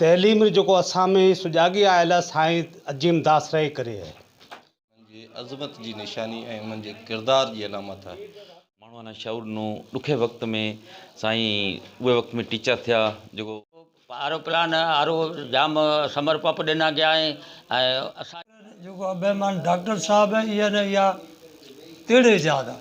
تعليم جو جيڪو اسان ۾ سجاڳي آيل آهي سائين عظيم داس رحه ڪري آهي. انهن جي عظمت جي نشاني ۽ انهن جي ڪردار جي علامت آهي. ماڻهو اڃا شعور ڏنو ڏکي وقت ۾ سائين اهي وقت ۾ ٽيچر ٿيا جيڪو. آرو پلان آرو جام سمر پپ ڏنا گيا ۽ اسان. جيڪو ابهيمان ڊاڪٽر صاحب اي اين اي آ تيڙي ايجاد آ.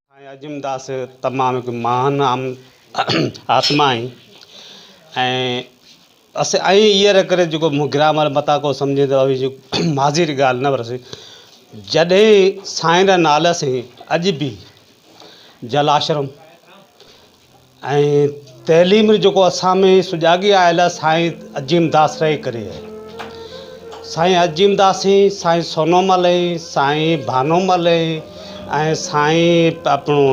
۽ عظيم داس تمام هڪ مهان آتما آهين ۽ ايئن نه ڪري جيڪو مون گرامر متان ڪو سمجهين ته اوهين جي ماضي جي ڳالهه نه ورسي جڏهن سائين را نالا سين اڄ بي جلاشرم ۽ تعليم جيڪو اسان ۾ سجاڳي آيل آ سائين عظيم داس ري ڪري آهي سائين عظيم داس ۽ سائين سونو مل ۽ سائين ڀانو مل ۽ ۽ سائين اپڻو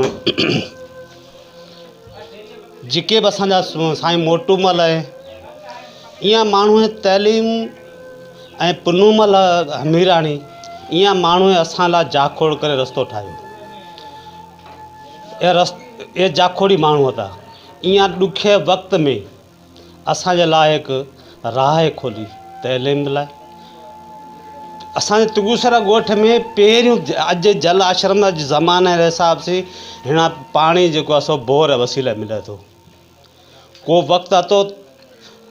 جيڪي به اسان جا سائين موٽو مل ۽ ايئا ماڻهو تعليم ۽ پنو مل هميراڻي ايئا ماڻهو اسان لا جاکوڙ ڪري رستو ٺاهيو اهي جاکوڙي ماڻهو ادا ايئن ڏکئي وقت ۾ اسان جي لاء هڪ راهه کولي تعليم لاء اسان جي تنگوسرا ڳوٺ ۾ پهريون اڄ جل آشرم زماني جي حساب سي هيڻا پاڻي جيڪو آهي سو بور وسيلي ملي ٿو ڪو وقت اتو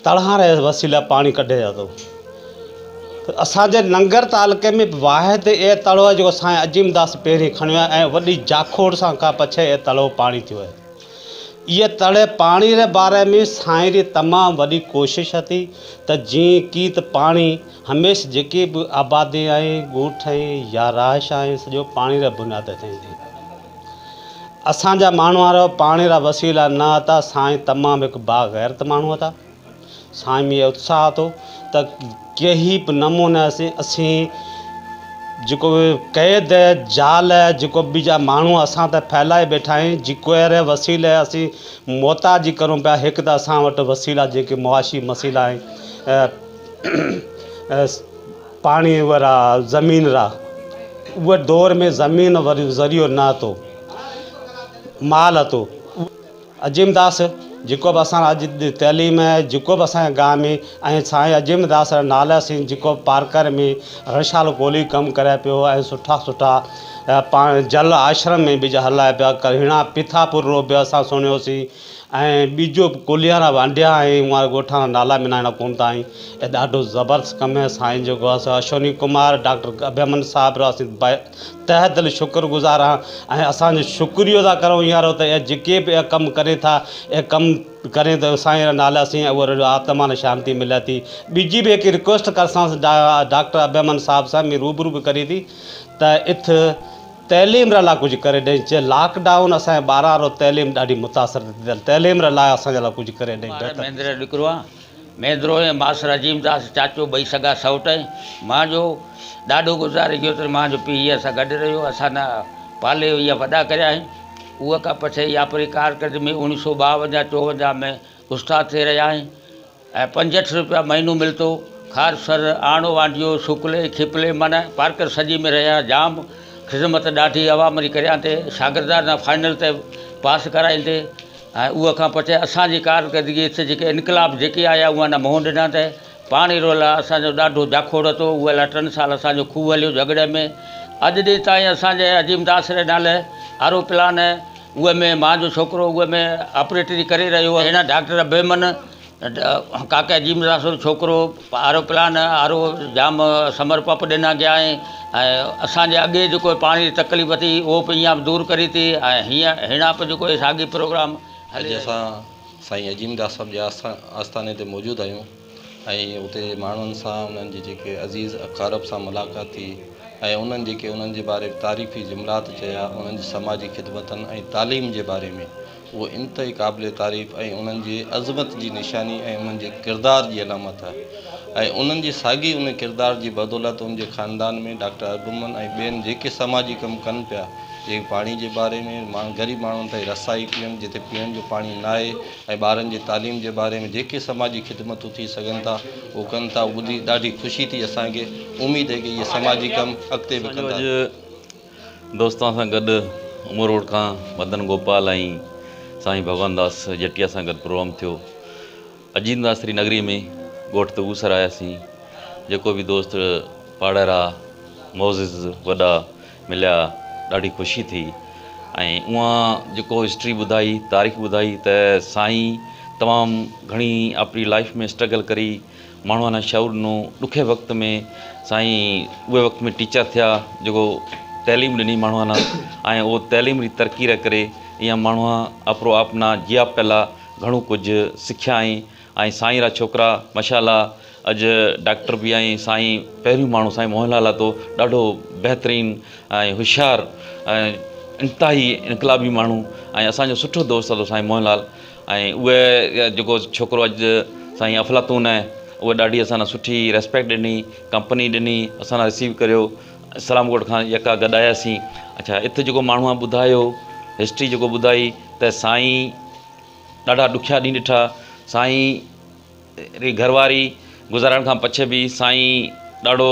تڙهان ري وسيلي پاڻي ڪڍي ويا تو اسانجي ننگر تعلقي ۾ واحد اي تڙو آهي جيڪو سائين عظيم داس پهرين کڻيو آهي ۽ وڏي جاکوڙ سان کان پڇي اي تڙو پاڻي ٿيو آهي اي تڙي پاڻي ري باري ۾ سائين ري تمام وڏي ڪوشش هتي ته جيئن ڪيت پاڻي هميش جيڪي به آبادي آهي ڳوٺ آهي يا رهائش آهي سڄو پاڻي ري بنياد تي ٿيندي اسان جا ماڻهوار پاڻي را وسيلا نه هتا سائين تمام هڪ با غيرت ماڻهو هتا سائين ۾ اتساهه هتو ته ڪهي به نموني اسين اسين جيڪو قيد جال جيڪو به جا ماڻهو اسان ته ڦهلائي بيٺا آهن جيڪو اهڙي وسيلي اسين محتاج ڪرون پيا هڪ ته اسان وٽ وسيلا جيڪي معاشي مسيلا آهن پاڻي ورا زمين را، اوء دور ۾ زمين ذريعو نه هتو، مال هتو. عظيم داس جيڪو به اسان اڄ تعليم جيڪو به اسان جي گاهه ۾ ۽ سائين عظيم داس را نالا سين جيڪو پارڪر ۾ رڻشال ڪولهي ڪم ڪري پيو ۽ سٺا سٺا پاڻ جل آشرم ۾ بج هلائي پيا ڪرهيڻا پٿاپور رو به اسان سڻيوسين ۽ ٻيجو به ڪليارا وانڊيا آهن اهان ڳوٺان جا نالا به اهڙا ڪون ٿا آهن ۽ ڏاڍو زبردست ڪم هي سائين جو گهر سو اشوني ڪمار ڊاڪٽر اڀيمن صاحب را اسين بي تهه دل شڪر گذار آهان ۽ اسان جو شڪريو ادا ڪرو اهان رو ته اهي جيڪي به اهي ڪم ڪري ٿا اهي ڪم ڪري ته سائين را نالا سين اهو رڙ آتما ني شانتي ملي ٿي ٻيجي به هڪ رڪويسٽ ڪرسانس ڊا ڊاڪٽر اڀيمن صاحب سان مين روبرو به ڪري ٿي ته اٿ تعليم رلا ڪجهه ڪري ڏئي جي لاڪ ڊائون اسان جي ٻاران رو تعليم ڏاڍي متاثر ٿي ٿيل تعليم رلا اسان جي لاء ڪجهه ڪري ڏئي بهتر مهندر جو ڏڪرو آهيان مهندرو ۽ ماس رحيم داس چاچو ٻئي سگا سئوٽ ۽ مان جو ڏاڏو گذاري گيو تڏهن مان جو پيء هيء سان گڏ رهيو اسان نه پالي هيء وڏا ڪريا آهن اهو کان پڇي هيء آپري ڪارڪردگي ۾ اوڻيهه سئو ٻاونجاهه چوونجاهه ۾ استاد ٿي رهيا آهن ۽ پنجهٺ روپيا مهينو ملتو. خار سر، آڻو وانڊيو، سوڪلي، کيپلي معنيٰ پارڪر سڄي ۾ رهيا جام خذمت ڏاڍي عوام ري ڪريان تي شاگردان نا فائنل تي پاس ڪرائين تي ۽ اوه کان پڇي اسان جي ڪارڪردگي هٿ جيڪي انقلاب جيڪي آيا اوهان نا منهن ڏنان تي پاڻي رو لا اسان جو ڏاڍو جاکوڙ هتو اوه لا ٽن سال اسان جو کوهه هليو جهڳڙي ۾ اڄ ڏينهن تائين اسان جي عظيم داس ري نالي آرو پلان اهي ۾ مان جو ڇوڪرو اهي ۾ آپريٽري ڪري رهيو هو هن ڊاڪٽر بيمن ڪاڪا جي مدراسو جو ڇوڪرو آرو پلان آرو جام سمر پپ ڏنا گيا ۽ اسان جي اڳي جيڪو پاڻي جي تڪليف ٿي اهو پي هيان دور ڪري ٿي ۽ هيان هيڻا پي جيڪو ساڳي پروگرام اڄ اسان سائين عظيم داس صاحب جي آستاني تي موجود آهيون. ۽ اتي ماڻهن سان انهن جي جيڪي عزيز اقارب سان ملاقات ٿي ۽ انهن جيڪي انهن جي باري ۾ تعريفي جملات چيا انهن جي سماجي خدمتن ۽ تعليم جي باري ۾ اهو انتهائي قابل تعريف ۽ انهن جي عظمت جي نشاني ۽ انهن جي ڪردار جي علامت آهي ۽ انهن جي ساڳي ان ڪردار جي بدولت ان جي خاندان ۾ ڊاڪٽر ارغمن ۽ ٻين جيڪي سماجي ڪم ڪن پيا جيڪي پاڻي جي باري ۾ غريب ماڻهن تائين رسائي پيئڻ جتي پيئڻ جو پاڻي ناهي ۽ ٻارن جي تعليم جي باري ۾ جيڪي سماجي خدمتون ٿي سگهن ٿا اهو ڪن ٿا اهو ٻڌي ڏاڍي خوشي ٿي اسان کي اميد آهي ڪه اهي سماجي ڪم اڳتي به ڪندا. اسان جو اڄ دوستان سان گڏ امو روڊ کان مدن گوپال ۽ سائين ڀڳوان داس جٽيا سان گڏ پروگرام ٿيو اجين داس ري نگري ۾ ڳوٺ تغوسر آياسين جيڪو به دوست پاڙهرا معزز وڏا مليا ڏاڍي خوشي ٿي ۽ اوهان جيڪو هسٽري ٻڌائي تاريخ ٻڌائي ته سائين تمام گهڻي آپري لائيف ۾ اسٽرگل ڪري ماڻهو انا شعور ڏنو ڏکي وقت ۾ سائين اهي وقت ۾ ٽيچر ٿيا جيڪو تعليم ڏني ماڻهو انا ۽ اهو تعليم ري ترقي ري ڪري ايئن ماڻهو آپرو آپنا جيا پيلا گهڻو ڪجهه سکيا ۽ ۽ سائين را ڇوڪرا ماشاءالله اڄ ڊاڪٽر به ۽ سائين پهريون ماڻهو سائين موهن لال لاٿو ڏاڍو بهترين ۽ هوشيار انتهائي انقلابي ماڻهو ۽ اسانجو سٺو دوست هتو سائين موهن لال ۽ اهي جيڪو ڇوڪرو اڄ سائين افلاطون آهي اهي ڏاڍي اسان لاء سٺي ريسپيڪٽ ڏني ڪمپني ڏني اسان لاء رسيو ڪريو اسلام ڪوٽ کان يڪا گڏ آياسين اڇا هت جيڪو ماڻهو ٻڌايو هسٽري جيڪو ٻڌائي ته سائين ڏاڍا ڏکيا ڏينهن ڏٺا سائين ري گهرواري گذارڻ کان پڇي به سائين ڏاڍو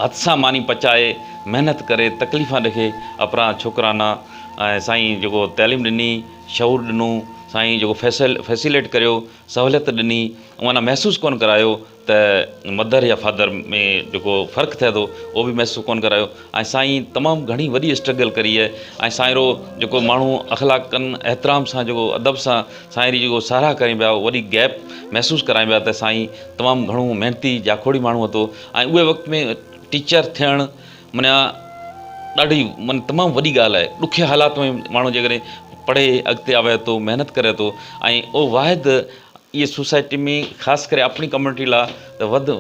هٿ سان ماني پچائي محنت ڪري تڪليفان ڏکي اپرا ڇوڪرانا ۽ سائين جيڪو تعليم ڏني شعور ڏنو سائين جيڪو فيسل فيسيليٽ ڪريو سهوليت ڏني معنيٰ محسوس ڪونه ڪرايو ته مڌر يا فاڌر ۾ جيڪو فرق ٿئي ٿو اهو به محسوس ڪونه ڪرايو ۽ سائين تمام گهڻي وڏي اسٽرگل ڪري آهي ۽ سائينرو جيڪو ماڻهو اخلاقن احترام سان جيڪو ادب سان سائين ري جيڪو ساراهه ڪرين پيا وڏي گيپ محسوس ڪرائين پيا ته سائين تمام گهڻو محنتي جاکوڙي ماڻهو هتو ۽ اهي وقت ۾ ٽيچر ٿيڻ منيا ڏاڍي من تمام وڏي ڳالهه آهي ڏکي حالات ۾ ماڻهو جيڪڏهن پڙهي اڳتي آوي ٿو محنت ڪري ٿو ۽ اهو واحد اهي سوسائٽي ۾ خاص ڪري اپڻي ڪميونٽي لا ته وڌ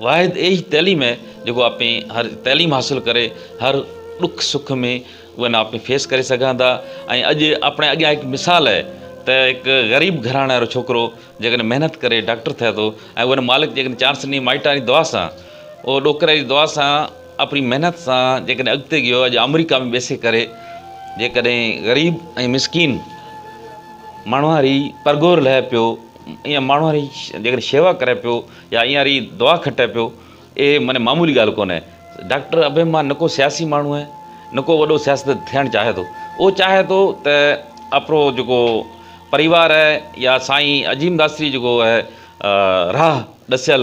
واحد اهي ئي تعليم آهي جيڪو اپي هر تعليم حاصل ڪري هر ڏک سک ۾ اهي نا اپي فيس ڪري سگهان ٿا ۽ اڄ اپڻي اڳيان هڪ مثال آهي ته هڪ غريب گهراڻي وارو ڇوڪرو جيڪڏهن محنت ڪري ڊاڪٽر ٿئي ٿو ۽ ان مالڪ جيڪڏهن چانس ڏني مائٽ واري دعا سان اهو ڏوڪري جي دعا سان اپڻي محنت سان جيڪڏهن اڳتي گيو اڄ آمريڪا ۾ ٻيسي ڪري جيڪڏهن غريب ۽ مسڪين ماڻهو هاري پرگهور لهي پيو، ايئن ماڻهو هاري جيڪڏهن شيوا ڪري پيو يا ايئن هاري دعا کٽي پيو، اهي معني معمولي ڳالهه ڪونهي. ڊاڪٽر ابهيم مان نه ڪو سياسي ماڻهو آهي، نه ڪو وڏو سياستدان ٿيڻ چاهي ٿو. اهو چاهي ٿو ته آپرو جيڪو پريوار آهي يا سائين عظيم داستري جيڪو آهي راهه ڏسيل،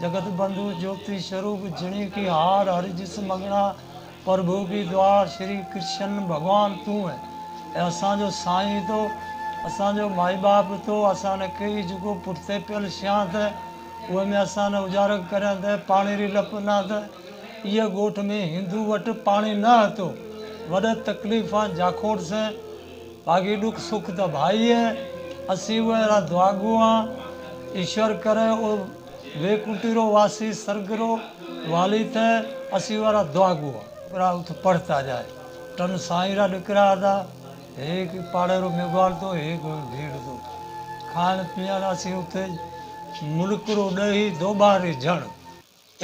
جگت بنڌو جوتي سروپ جڻي ڪي هار هر جس مڱڻا پرڀو ڪي دوار شري ڪرشن ڀڳوان تون اي اسان جو سائين تو اسان جو مائي ٻاپ تو اسان ني ڪي جيڪو پٺتي پيل شيان ته اوهي ۾ اسان ني اجارڪ ڪرين ته پاڻي ري لپ نه ته ايئي ڳوٺ ۾ هندو وٽ پاڻي نه هتو وڏ تڪليفان جاکوڙ سين باقي ڏک سک ته ڀائيء، اسين اهي اهڙا دعاگو آن، ايشور ڪري او ويڪنٽي رو واسي سرڳ رو والي ته اسين اهي اهڙا دعاگو آن. ڏکرا اٿ پڙهه ته اجائي، ٽن سائين را ڏکرا ادا، هيڪ پاڙي رو ميگهواڙ ٿو، هيڪ ڀيڙ ٿو. کائڻ پيئڻ اسين اٿ ملڪ رو ڏهي دوٻاري جهڻ.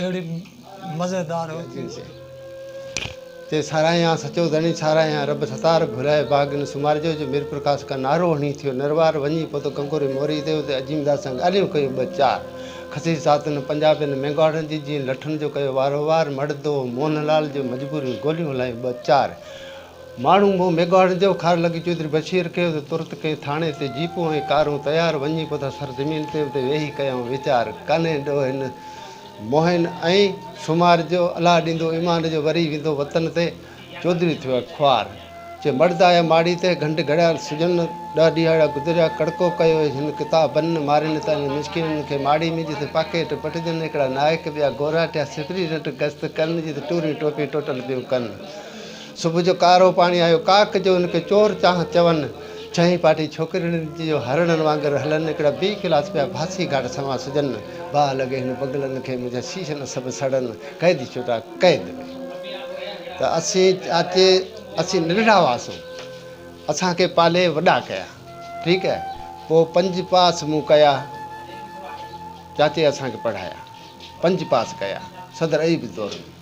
اهڙي مزيدار هوتي سي. تي ساراهيان سچو ڌڻي ساراهيان رب ستار گهرائي باغ نه سمارجو جو ميرپرڪاس کان نارو هڻي ٿيو نروار وڃي پهتو گنگوري موري تي اتي عظيم داد سان ڳالهيون ڪيون ٻه چار خسيس ساعتن پنجابين مينگهواڙن جي جيئن لٺن جو ڪيو وارو وار مڙدو موهن لال جو مجبورين گوليون هلايون ٻه چار ماڻهو مون ميگهواڙن جو خار لڳي چوڌري بشير کي ته ترت ڪنهن ٿاڻي تي جيپون ۽ ڪارون تيار وڃي پودا سر زمين تي اتي ويهي ڪيائون ويچار ڪنهن ڏوهين موهين ۽ سومار جو الله ڏيندو ايمان جو وري ويندو وطن تي چوڌري ٿيو آهي خوار چي مڙد آيا ماڙي تي گهنڊ گهڙيال سجن ڏهه ڏيهاڙا گذريا ڪڙڪو ڪيو هيس هن ڪتابن مارين تان مسڪينن کي ماڙي ۾ جت پاڪيٽ پٽجن هڪڙا نائڪ ٻيا گوراٽيا سپري رٽ گست ڪن جت ٽوري ٽوپي ٽوٽل پيون ڪن صبح جو ڪارو پاڻي آيو ڪاڪ جو ان کي چور چانھ چون ڇهين پاٽي ڇوڪرين جو هرڻن وانگر هلن هڪڙا بي خلاص پيا ڀاسي گهاٽ سنوان سجن باھ لڳي هن بگلن کي منهنجا شيشن سڀ سڙن قيدي ڇوٽا قيد ۾ ته اسين چاچي اسين ننڍڙا هئاسون اسان کي پالي وڏا ڪيا ٺيڪ هي پو پنج پاس مون ڪيا چاچي اسان کي پڙهايا پنج پاس ڪيا صدر ايب دور ۾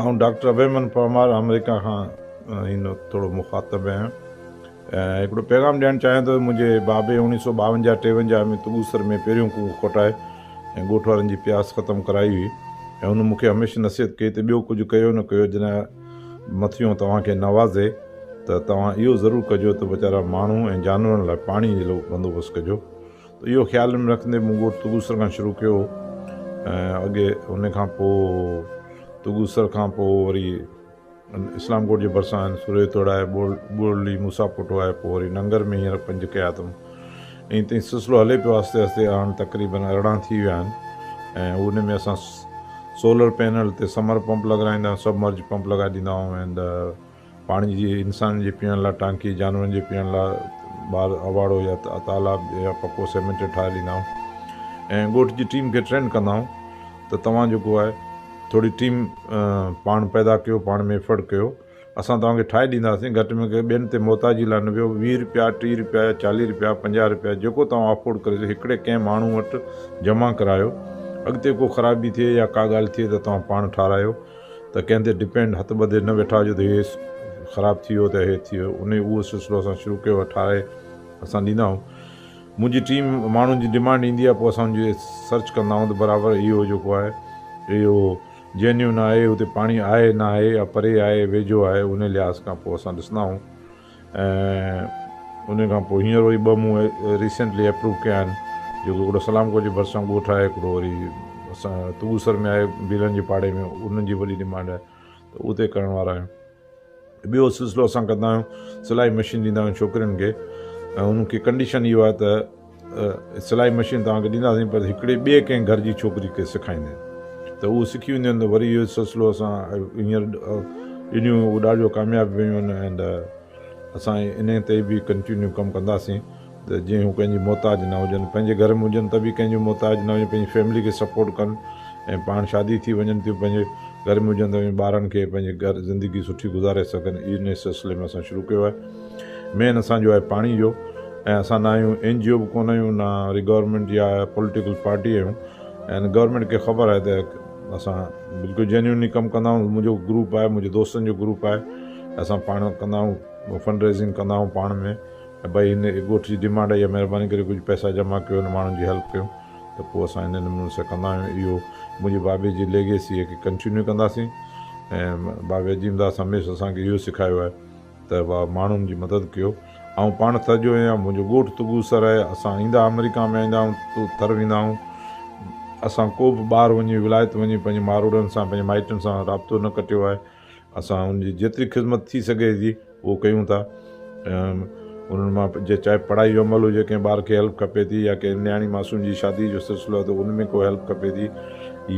آئون ڊاڪٽر ابيمن پرمار آمريڪا کان هن وقت ٿورو مخاطب آهيان ۽ هڪڙو پيغام ڏيڻ چاهيان ٿو منهنجي بابي اوڻيهه سو ٻاونجاهه ٽيونجاهه ۾ تڳوسر ۾ پهريون ڪوئون کوٽائي ۽ ڳوٺ وارن جي پياس ختم ڪرائي هئي ۽ هن مون کي هميشه نصيحت ڪئي ته ٻيو ڪجهه ڪيو نه ڪيو جڏهن مٿيون توهان کي نوازي ته توهان اهو ضرور ڪجو ته ويچارا ماڻهو ۽ جانورن لاء پاڻي جي بندوبست ڪجو ته اهو خيال ۾ رکندي مون ڳوٺ توگوسر کان شروع ڪيو هو ۽ اڳي ان کان پوء توگوسر کان پوء وري اسلام ڪوٽ جي ڀرسان آهن سوري توڙائي ٻورلي موسا پوٽو آهي پوء وري ننگر ۾ هينئر پنج ڪيا اٿم ائين تائين سلسلو هلي پيو آهستي آهستي هاڻ تقريبن ارڙهن ٿي ويا آهن ۽ ان ۾ اسان سولر پينل تي سمر پمپ لڳرائيندا سبمرج پمپ لڳائي ڏيندا آهيون پاڻي جي انسانن جي پيئڻ لاء ٽانڪي، جانورن جي پيئڻ لاء ٻاھر اواڙو يا تالاب يا پڪو سيمينٽ ٺاھي ڏيندا آھيون ۽ ڳوٺ جي ٽيم کي ٽرين ڪندا آھيون ته توھان جيڪو آھي ٿوري ٽيم پاڻ پيدا ڪيو پاڻ ۾ ايفرٽ ڪيو اسان توھان کي ٺاھي ڏينداسين گھٽ ۾ گھٽ ٻين تي محتاجي لاء نه ويھو ويھه روپيا ٽيھه روپيا يا چاليھه روپيا پنجاھه روپيا جيڪو توھان افورڊ ڪري سگھو ھڪڙي ڪنھن ماڻھو وٽ جمع ڪرايو اڳتي ڪو خرابي ٿئي يا ڪا ڳالھه ٿئي ته توھان پاڻ ٺاھرايو ته ڪنهن تي ڊپينڊ هٿ ٻڌي نه ويٺا هجو ته هي خراب ٿي ويو ته هي ٿي ويو انهي اهو سلسلو اسان شروع ڪيو آهي ٺاهي اسان ڏيندا آهيون منهنجي ٽيم ماڻهن جي ڊمانڊ ايندي آهي پوء اسان ان جي سرچ ڪندا آهيون ته برابر اهو جيڪو آهي اهو جينيون آهي اتي پاڻي آهي ناهي يا پري آهي ويجهو آهي انهي لحاظ کان پوء اسان ڏسندا آهيون ۽ ان کان پوء هينئر وري ٻه مون ريسينٽلي اپروو ڪيا آهن جيڪو هڪڙو سلام ڪوچ جي ڀرسان ڳوٺ آهي هڪڙو وري اسان تونگوسر ۾ آهي بيلن جي پاڙي ۾ انهن جي وڏي ڊمانڊ آهي ته اتي ڪرڻ وارا آهيون ٻيو سلسلو اسان ڪندا آهيون سلائي مشين ڏيندا آهيون ڇوڪرين کي ۽ انهن کي ڪنڊيشن اهو آهي ته سلائي مشين توهان کي ڏينداسين پر هڪڙي ٻئي ڪنهن گهر جي ڇوڪري کي سکائيندين ته اهو سکي وينديون ته وري اهو سلسلو اسان هينئر ڏنيون اهو ڏاڍو ڪامياب ويون آهن اينڊ اسان انهي تي به ڪنٽينيو ڪم ڪنداسين ته جيئن هو ڪنهن جي محتاج نه هجن پنهنجي گهر ۾ هجن ته به ڪنهن جو محتاج نه هجن پنهنجي فيملي کي سپورٽ ڪن ۽ پاڻ شادي ٿي وڃن ٿيون پنهنجي گهر ۾ هجن ته ٻارن کي پنهنجي گهر زندگي سٺي گذاري سگهن انهي سلسلي ۾ اسان شروع ڪيو آهي مين اسان جو آهي پاڻي جو ۽ اسان نه آهيون اين جي او به ڪونه آهيون نه وري گورنمينٽ جا پوليٽيڪل پارٽي آهيون ۽ گورنمينٽ کي خبر آهي ته اسان بلڪل جينيونلي ڪم ڪندا آهيون منهنجو گروپ آهي منهنجي دوستن جو گروپ آهي اسان پاڻ ڪندا آهيون فنڊ ريزنگ ڪندا آهيون پاڻ ۾ ۽ بھي هن ڳوٺ جي ڊيمانڊ آهي مھرباني ڪري ڪجھ پئسا جمع ڪيو هن ماڻهن جي هيلپ ڪيو ته پوء اسان هن نموني سان ڪندا آهيون اهو منهنجي بابي جي ليگيسي کي ڪنٽينيو ڪنداسين ۽ بابي عظيم داس هميشه اسانکي اهو سکايو آهي ته واهه ماڻهن جي مدد ڪيو. آئون پاڻ ٿر جو هيان. منهنجو ڳوٺ تگو سر آهي. اسان ايندا آمريڪا ۾ ايندا آهيون ته ٿر ويندا آهيون. اسان ڪو به ٻاهر وڃي ولايت وڃي پنهنجي ماروئڙن سان پنهنجي مائٽن سان رابطو نه ڪٽيو آهي. اسان ان جي جيتري خذمت ٿي سگهي ٿي اهو ڪيون ٿا. انهن مان جي چاهي پڙهائي جو عمل هجي ڪنهن ٻار کي هيلپ کپي ٿي يا ڪنهن نياڻي معصوم جي شادي جو سلسلو آهي ته ان ۾ ڪو هيلپ کپي ٿي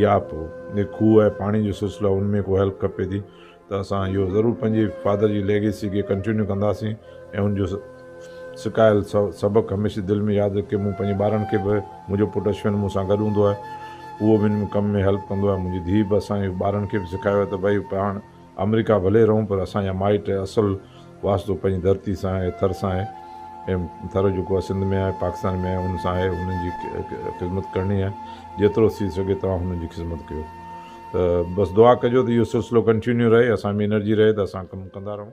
يا پوء کوهه ۽ پاڻي جو سلسلو آهي ان ۾ ڪو هيلپ کپي ٿي ته اسان اهو ضرور پنهنجي فادر جي ليگيسي کي ڪنٽينيو ڪنداسين ۽ ان جو سکايل سبق هميشه دل ۾ ياد رکي مون پنهنجي ٻارن کي به منهنجو پٽ اشون مون سان گڏ هوندو آهي اهو به ان ڪم ۾ هيلپ ڪندو آهي منهنجي ڌيء به اسان جي ٻارن کي به سکايو آهي ته ڀائي پاڻ آمريڪا ڀلي رهون پر اسان جا مائٽ اصل واسطو پنهنجي ڌرتي سان آهي، ٿر سان آهي ۽ ٿر جيڪو آهي سنڌ ۾ آهي، پاڪستان ۾ آهي، ان سان آهي، انهن جي خدمت ڪرڻي آهي، جيترو ٿي سگهي توهان هنن جي خدمت ڪيو ته بس دعا ڪجو ته اهو سلسلو ڪنٽينيو رهي، اسان ۾ انرجي رهي ته اسان ڪم ڪندا رهون.